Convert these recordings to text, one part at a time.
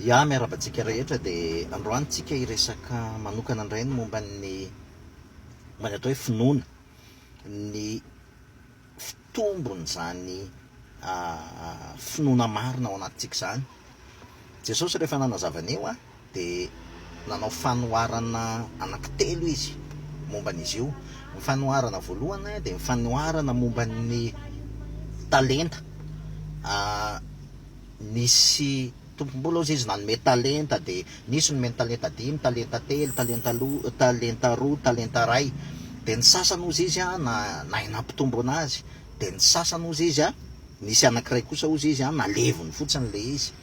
Ya, miarahaba antsika rehetra, dia androany tsika hiresaka manokana indray ny momba ny momba ny atao hoe finoana, ny fitombon'izany finoana marina ao anatintsika izany. Jesosy rehefa nanazava an'io, dia nanao fanoharana anankitelo izy momba an'izy io. Ny fanoharana voalohany dia ny fanoharana momba ny talenta. Nisy tompom-bola hozy izy nanome talenta, dia nisy nomeny talenta dimy, talenta telo, talenta loha, talenta roa, talenta iray. Dia ny sasany hozy izy nahay nampitombo anazy, dia ny sasany hozy izy, nisy anankiray kosa hozy izy naleviny fotsiny ilay izy.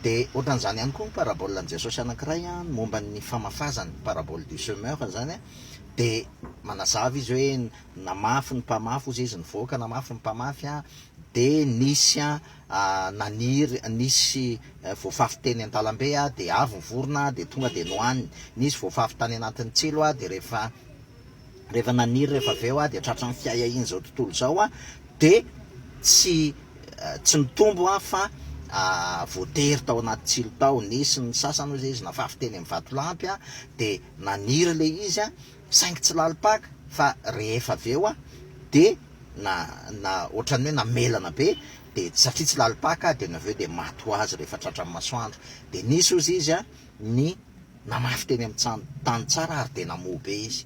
Dia ohatran'izany ihany koa ny parabolan'i Jesosy anankiray an, momba ny famafazany, parabole du semeur izany an, dia manazava izy hoe namafy ny mpamafy, hoy izay izy, nivoaka namafy ny mpamafy an, dia nisy an naniry, nisy voafafy teny an-dalambe an, dia avy ny vorona dia tonga dia nohaniny, nisy voafafy tany anatin'ny tsilo an, dia rehefa. Rehefa naniry rehefa avy eo aho dia tratran'ny fiahiahian'izao tontolo izao aho dia tsy tsy nitombo aho fa voatery tao anaty tsilo tao, nisy ny sasany hoy izay izy nafafy teny amin'ny vatolampy aho dia naniry ilay izy aho saingy tsy lalim-paka fa rehefa avy eo aho dia na na ohatran'ny hoe namelana be dia satria tsy lalim-paka aho dia avy eo dia maty ho azy rehefa tratran'ny masoandro dia nisy hozy izy aho ny Namafy teny amin'ny tany tsara ary dia namoa be izy.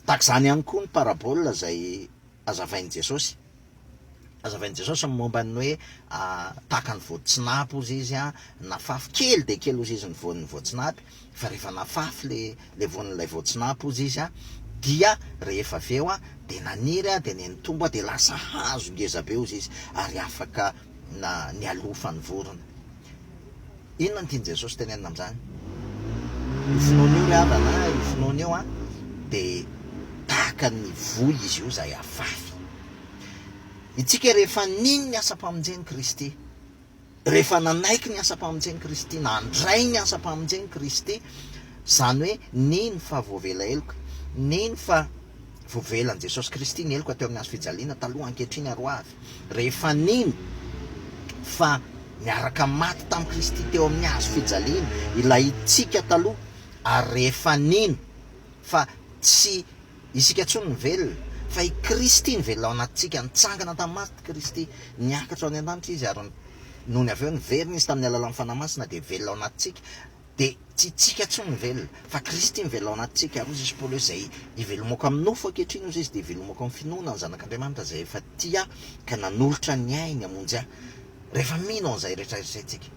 Tahaka izany ihany koa ny parabola izay hazavain'i Jesosy. Hazavain'i Jesosy ny momba ny hoe tahaka ny voatsinapy hozy izy, nafafy kely dia kely hozy izy ny voan'ny voatsinapy, fa rehefa nafafy ilay voan'ilay voatsinapy hozy izy dia rehefa avy eo dia naniry dia nenitombo dia lasa hazo ngeza be hozy izy ary afaka na nialofan'ny vorona. Inona no tian'i Jesosy tenenina amin'izany? Io finoana io ry havana a, io finoana io a, dia tahaka ny voly izy io izay afafy. Isika rehefa nino ny asam-pamonjen'i Kristy, rehefa nanaiky ny asam-pamonjen'i Kristy, nandray ny asam-pamonjen'i Kristy, izany hoe nino fa voavela heloka, nino fa. Voavelan'i Jesosy Kristy ny heloka teo amin'ny hazo fijaliana, taloha, ankehitriny ary ho avy. Rehefa nino fa niaraka maty tamin'i Kristy teo amin'ny hazo fijaliana ilay tsika taloha, ary rehefa nino fa tsy isika intsony no velona, fa i Kristy no velona ao anatintsika, nitsangana tamin'ny maty Kristy, niakatra ho any an-danitra Izy ary nony avy eo niverina Izy tamin'ny alalan'ny Fanahy Masina, dia velona ao anatintsika. Dia tsy itsika intsony no velona, fa Kristy mivelona ao anatintsika. Ary hoy Jesosy Paoly hoe, Izay ivelomako amin'ny nofo ankehitriny, hoy Izy, dia ivelomako amin'ny finoana ny Zanak'Andriamanitra izay efa tia ahy ka nanolotra ny ainy hamonjy ahy. Rehefa mino an'izay rehetra izay isika,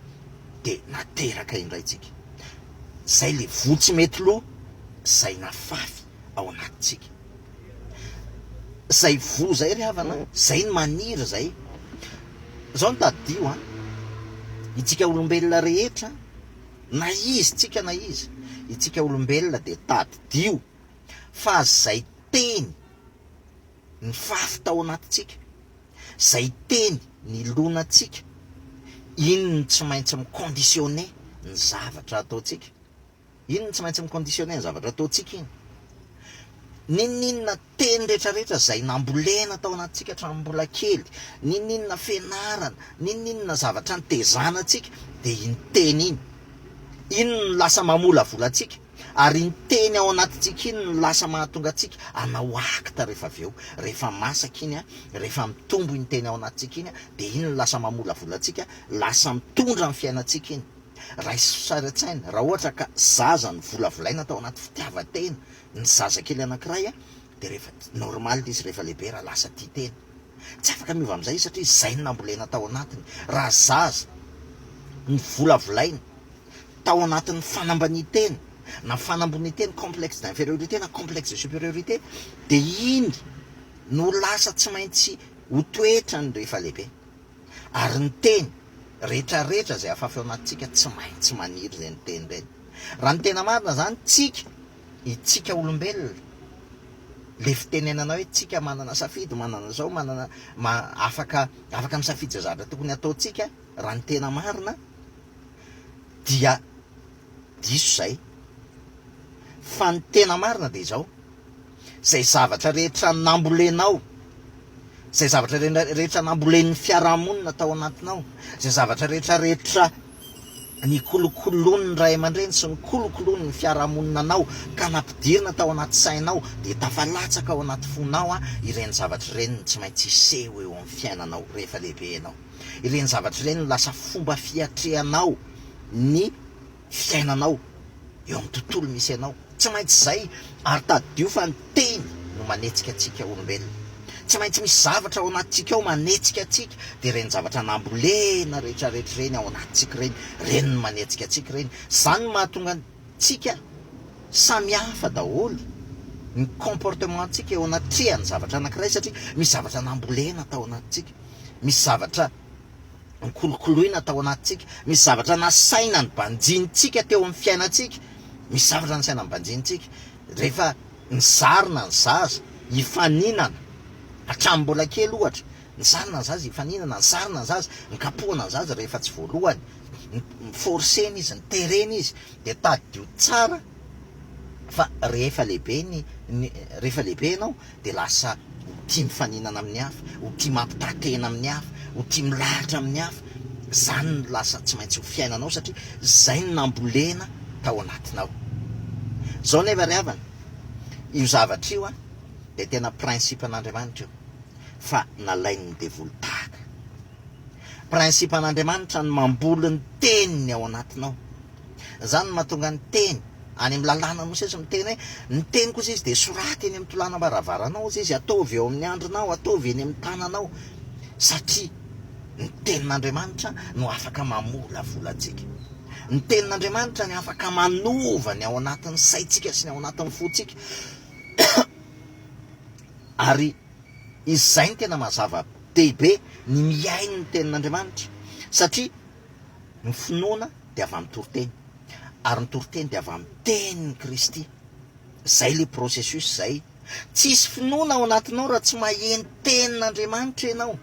dia nateraka indray isika. Izay ilay voa tsy mety lo, izay nafafy ao anatintsika. Izay voa izay ry havana, izay no maniry izay. Izao no tadidio an, itsika olombelona rehetra, Na izy tsika na izy, itsika olombelona dia tadidio fa zay teny nifafy tao anatintsika, zay teny nilonantsika, iny no tsy maintsy mi-conditionner ny zavatra ataontsika. Iny no tsy maintsy mi-conditionner ny zavatra ataontsika iny. N'inon'inona teny rehetrarehetra izay nambolena tao anatintsika hatramin'ny mbola kely, n'inon'inona fianarana, n'inon'inona zavatra nitezana antsika, dia iny teny iny. Iny no lasa mamolavola antsika, ary iny teny ao anatintsika iny no lasa mahatonga antsika hanao acte rehefa avy eo. Rehefa masaka iny, rehefa mitombo iny teny ao anatintsika iny, dia iny no lasa mamolavola antsika, lasa mitondra ny fiainantsika iny. Raiso sary an-tsaina, raha ohatra ka zaza novolavolaina tao anaty fitiavan-tena ny zazakely anankiray, dia rehefa normal ilay izy rehefa lehibe raha lasa tia tena. Tsy afaka miova amin'izay izy satria izay no nambolena tao anatiny. Raha zaza novolavolaina tao anatin'ny fanambanian-tena na fanambonian-tena, complexe d'infériorité na complexe de supériorité, dia iny no lasa tsy maintsy ho toetrany rehefa lehibe. Ary ny teny, retraretra izay afafy ao anatintsika tsy maintsy maniry ireny teny ireny. Raha ny tena marina izany, tsika, itsika olombelona, ilay fitenenana hoe tsika manana safidy, manana izao, manana, afaka, afaka misafidy izay zavatra tokony hataontsika, raha ny tena marina, dia diso izay. Fa ny tena marina dia izao. izay zavatra rehetra nambolenao, izay zavatra rehetra nambolen'ny fiarahamonina tao anatinao, izay zavatra rehetra rehetra nikolokoloin'ny ray aman-dreny sy nikolokoloin'ny fiarahamonina anao ka nampidirina tao anaty sainao dia tafalatsaka ao anaty fonao ireny zavatra ireny no tsy maintsy hiseho eo amin'ny fiainanao rehefa lehibe ianao. Ireny zavatra ireny no lasa fomba fiatrehanao ny fiainanao, eo amin'ny tontolo misy anao. Tsy maintsy izay, ary tadidio fa ny Teny no manetsika antsika olombelona. Tsy maintsy misy zavatra ao anatintsika ao manetsika antsika, dia ireny zavatra nambolena rehetrarehetra ireny ao anatintsika ireny, ireny no manetsika antsika ireny. Izany no mahatonga antsika samy hafa daholo ny comportement-ntsika eo anatrehan'ny zavatra anankiray, satria misy zavatra nambolena tao anatintsika, misy zavatra nokolokoloina tao anatintsika, misy zavatra nasaina nibanjinintsika teo amin'ny fiainantsika, misy zavatra nasaina nibanjinintsika rehefa nizarina ny zaza hifaninana hatramin'ny mbola kely ohatra, nizarina ny zaza hifaninana, nizarina ny zaza, nikapohana ny zaza rehefa tsy voalohany, forcena izy, niterena izy, dia tadidio tsara fa rehefa lehibe ny rehefa lehibe ianao, dia lasa ho tia mifaninana amin'ny hafa, ho tia mampitaha-tena amin'ny hafa, ho tia milahatra amin'ny hafa. Izany no lasa tsy maintsy ho fiainanao satria izay no nambolena tao anatinao. Izao anefa ry havana, io zavatra io dia tena principe-n'Andriamanitra io fa nalain'ny devoly tahaka. Principe-n'Andriamanitra ny mamboly ny teniny ao anatinao. Izany no mahatonga ny teny. any amin'ny lalàna Mosesy miteny hoe, ny teniko hozy izy dia soraty eny amin'ny tolànam-baravaranao hozy izy, ataovy eo amin'ny andrinao, ataovy eny amin'ny tananao, satria ny tenin'Andriamanitra no afaka mamolavola antsika. Ny tenin'Andriamanitra ny afaka manova ny ao anatin'ny saintsika sy ny ao anatin'ny fontsika. Ary izay ny tena mazava dehibe ny mihaino ny tenin'Andriamanitra, satria Ny finoana dia avy amin'ny toriteny, ary ny toriteny dia avy amin'ny tenin'i Kristy. Izay ilay processus izay. Tsy hisy finoana ao anatinao raha tsy maheno tenin'Andriamanitra ianao.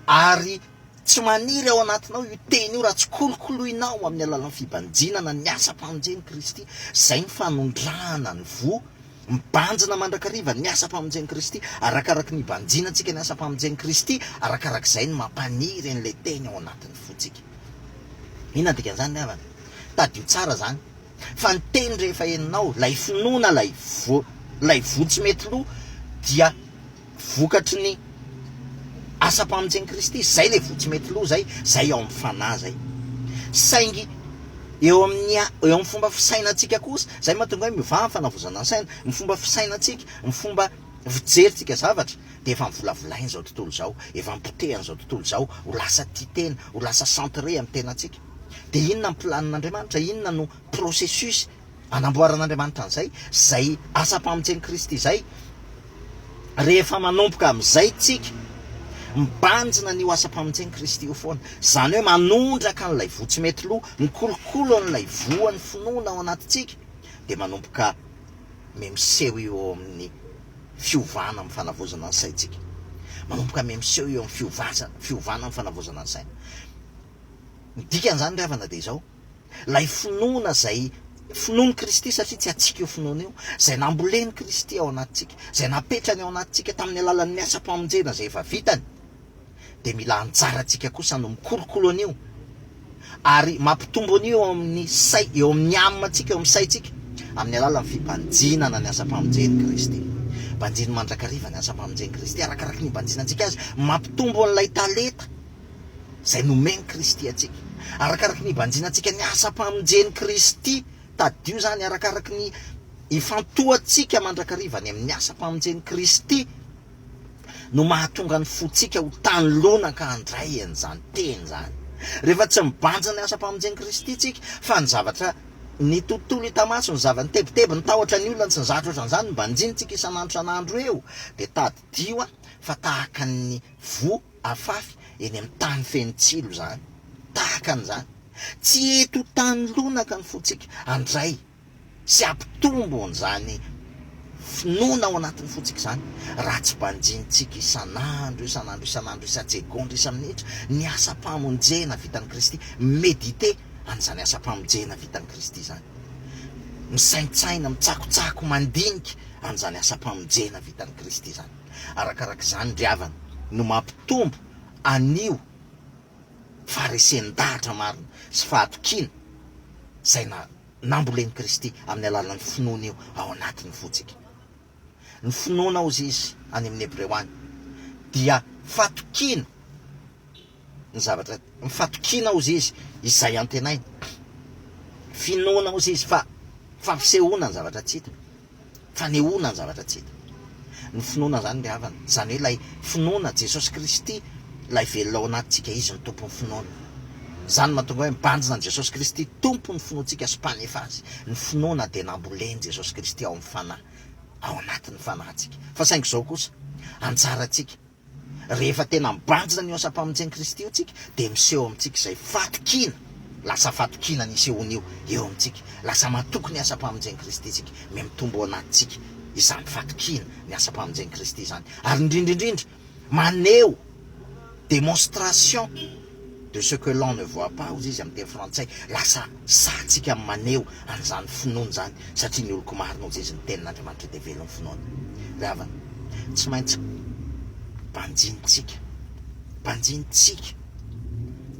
Ary tsy maniry ao anatinao io teny io raha tsy kolokoloinao amin'ny alalan'ny fibanjinana ny asam-pamonjen'i Kristy. Izay ny fanondrahana ny voa Mibanjina mandrakariva ny asam-pamonjen'i Kristy. Arakaraky ny hibanjinantsika ny asam-pamonjen'i Kristy, arakarak'izay no mampaniry an'ilay Teny ao anatin'ny fontsika. Inona no dikan'izany ry havana? Tadidio tsara izany. Fa ny Teny rehefa henonao, ilay finoana, ilay voa, ilay voa tsy mety lo, dia. vokatry ny asam-pamonjen'i Kristy. Izay ilay voa tsy mety lo izay, izay ao amin'ny fanahy izay. Saingy eo amin'ny eo amin'ny fomba fisainantsika kosa, izay mahatonga hoe mivaha ny fanavozana ny saina, ny fomba fisainantsika, ny fomba fijerintsika zavatra dia efa novolavolain'izao tontolo izao, efa nopotehan'izao tontolo izao ho lasa tia tena, ho lasa centré amin'ny tenantsika. Dia inona ny planin'Andriamanitra? Inona no processus? anamboaran'Andriamanitra an'izay, izay asam-pamonjen'i Kristy izay. Rehefa manomboka amin'izay tsika, mibanjina an'io asam-pamonjen'i Kristy io foana. Izany hoe manondraka an'ilay voa tsy mety lo, mikolokolo an'ilay voan'ny finoana ao anatintsika, dia manomboka miha-miseho io eo amin'ny fiovana amin'ny fanavaozana ny saintsika. Manomboka miha-miseho eo amin'ny fiovana amin'ny fanavaozana ny saina. Ny dikan'izany ry havana dia izao. ilay finoana izay finoan'i Kristy, satria tsy antsika io finoana io, izay nambolen'i Kristy ao anatintsika, izay napetrany ao anatintsika tamin'ny alalan'ny asam-pamonjena izay efa vitany, dia mila anjara antsika kosa no mikolokolo an'io ary mampitombo an'io eo amin'ny say, eo amin'ny âme antsika, eo amin'ny saintsika, amin'ny alalan'ny fibanjinana ny asam-pamonjen'i Kristy. Banjino mandrakariva ny asam-pamonjen'i Kristy, arakaraky ny ibanjinantsika Azy, mampitombo an'ilay talenta izay nomen'i Kristy antsika. Arakaraky ny ibanjinantsika ny asam-pamonjen'i Kristy, tadidio izany, arakaraky ny ifantohantsika mandrakariva any amin'ny asam-pamonjen'i Kristy no mahatonga ny fontsika ho tany lona ka handray an'izany teny izany. Rehefa tsy mibanjina ny asam-pamonjen'i Kristy isika fa ny zavatra ny tontolo hita maso, ny zava-nitebiteby, ny tahotra ny olona, ny tsy ny zahatra ohatran'izany no banjinintsika isan'andro isan'andro eo dia tadidio fa tahaka ny voa Afafy eny amin'ny tany feno tsilo izany, tahaka an'izany. Tsy eto ho tany lonaka ny fontsika. Handray sy hampitombo an'izany finoana ao anatin'ny fontsika izany, raha tsy banjinintsika isan'andro, isan'andro, isan'andro, isan-tsegondra, isa-minitra, ny asam-pamonjena vitan'i Kristy. Méditer an'izany asam-pamonjena vitan'i Kristy izany. Misaintsaina, mitsakotsako, mandinika an'izany asam-pamonjena vitan'i Kristy izany. Arakaraka izany ry havana no mampitombo an'io faharesen-dahatra marina sy fahatokiana izay nambolen'i Kristy amin'ny alalan'ny finoana io ao anatin'ny fontsika. Ny finoana hozy izy any amin'ny Hebreo any dia fatokiana ny zavatra ny fatokiana ozy izy izay antenaina, finoana ozy izy fa fampisehoana ny zavatra tsy hita, fanehoana ny zavatra tsy hita. Ny finoana izany ry havana, izany hoe ilay finoana Jesosy Kristy ilay velona ao anatintsika, Izy no Tompon'ny finoana. Izany no mahatonga hoe mibanjina an'i Jesosy Kristy Tompon'ny finoantsika sy Mpanefa azy. Ny finoana dia nambolen'i Jesosy Kristy ao amin'ny Fanahy, ao anatin'ny fanahintsika. Fa saingy izao kosa, anjarantsika. Rehefa tena mibanjina an'io asam-pamonjen'i Kristy io tsika dia miseho amintsika izay fatokiana, lasa fatokiana ny isehoan'io eo amintsika, lasa matoky ny asam-pamonjen'i Kristy tsika, mihamitombo ao anatintsika izany fatokiana ny asam-pamonjen'i Kristy izany, ary indrindra indrindra maneho démonstration, de ce que l'on ne voit pas hozy izy amin'ny teny frantsay, lasa sahy tsika amin'ny maneho an'izany finoana izany satria ny oloko marina hozy izy ny tenin'Andriamanitra dia velon'ny finoana. Ry havana, tsy maintsy banjintsika, banjintsika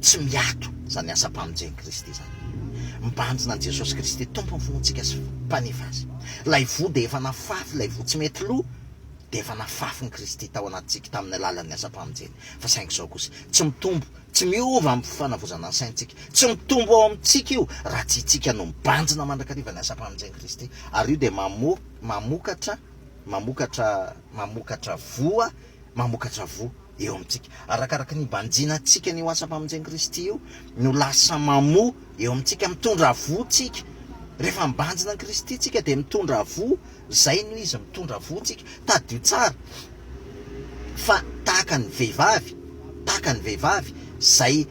tsy miato izany asam-pamonjen'i Kristy izany. Mibanjina an'i Jesosy Kristy Tompon'ny finoantsika sy Mpanefy azy. Ilay voa dia efa nafafy, ilay voa tsy mety lo dia efa nafafin'i Kristy tao anatintsika tamin'ny alalan'ny asam-pamonjeny. fa saingy izao kosa, tsy mitombo, tsy miova amin'ny fanavozana ny saintsika. Tsy mitombo ao amintsika io raha tsy itsika no mibanjina mandrakariva ny asam-pamonjen'i Kristy, ary io dia mamokatra, mamokatra, mamokatra voa, mamokatra voa eo amintsika. Arakaraka ny ibanjina antsika an'io asam-pamonjen'i Kristy io no lasa mamoa eo amintsika, mitondra voa tsika. Rehefa mibanjina an'i Kristy tsika dia mitondra voa. Zay no izy mitondra voa tsika. Tadidio tsara fa tahaka ny vehivavy, tahaka ny vehivavy zay,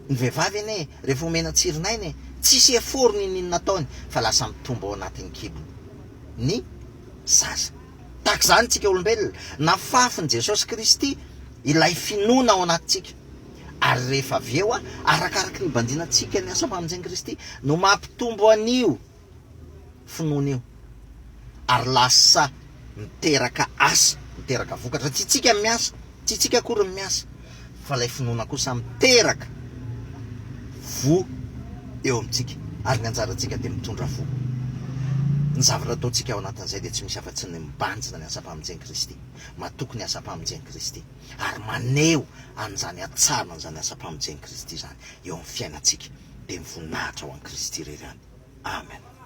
ny vehivavy anie rehefa omena tsirin'aina e, tsisy effort n'ininona ataony fa lasa mitombo ao anatin'ny kibony ny zaza. Tahaka izany tsika olombelona, nafafin'i Jesosy Kristy ilay finoana ao anatintsika, ary rehefa avy eo arakaraka ny nibanjinantsika ny asam-pamonjen'i Kristy no mampitombo an'io finoana io ary lasa miteraka asa, miteraka vokatra fa tsy tsika miasa, tsy tsika akory no miasa fa ilay finoana kosa miteraka voa eo amintsika ary ny anjarantsika dia mitondra voa. Ny zavatra ataontsika ao anatin'izay dia tsy misy afa-tsy ny mibanjina ny asam-pamonjen'i Kristy, matoky ny asam-pamonjen'i Kristy ary maneho an'izany hatsarana an'izany asam-pamonjen'i Kristy izany. eo amin'ny fiainantsika, dia ny voninahitra ho an'i Kristy irery ihany. Amen.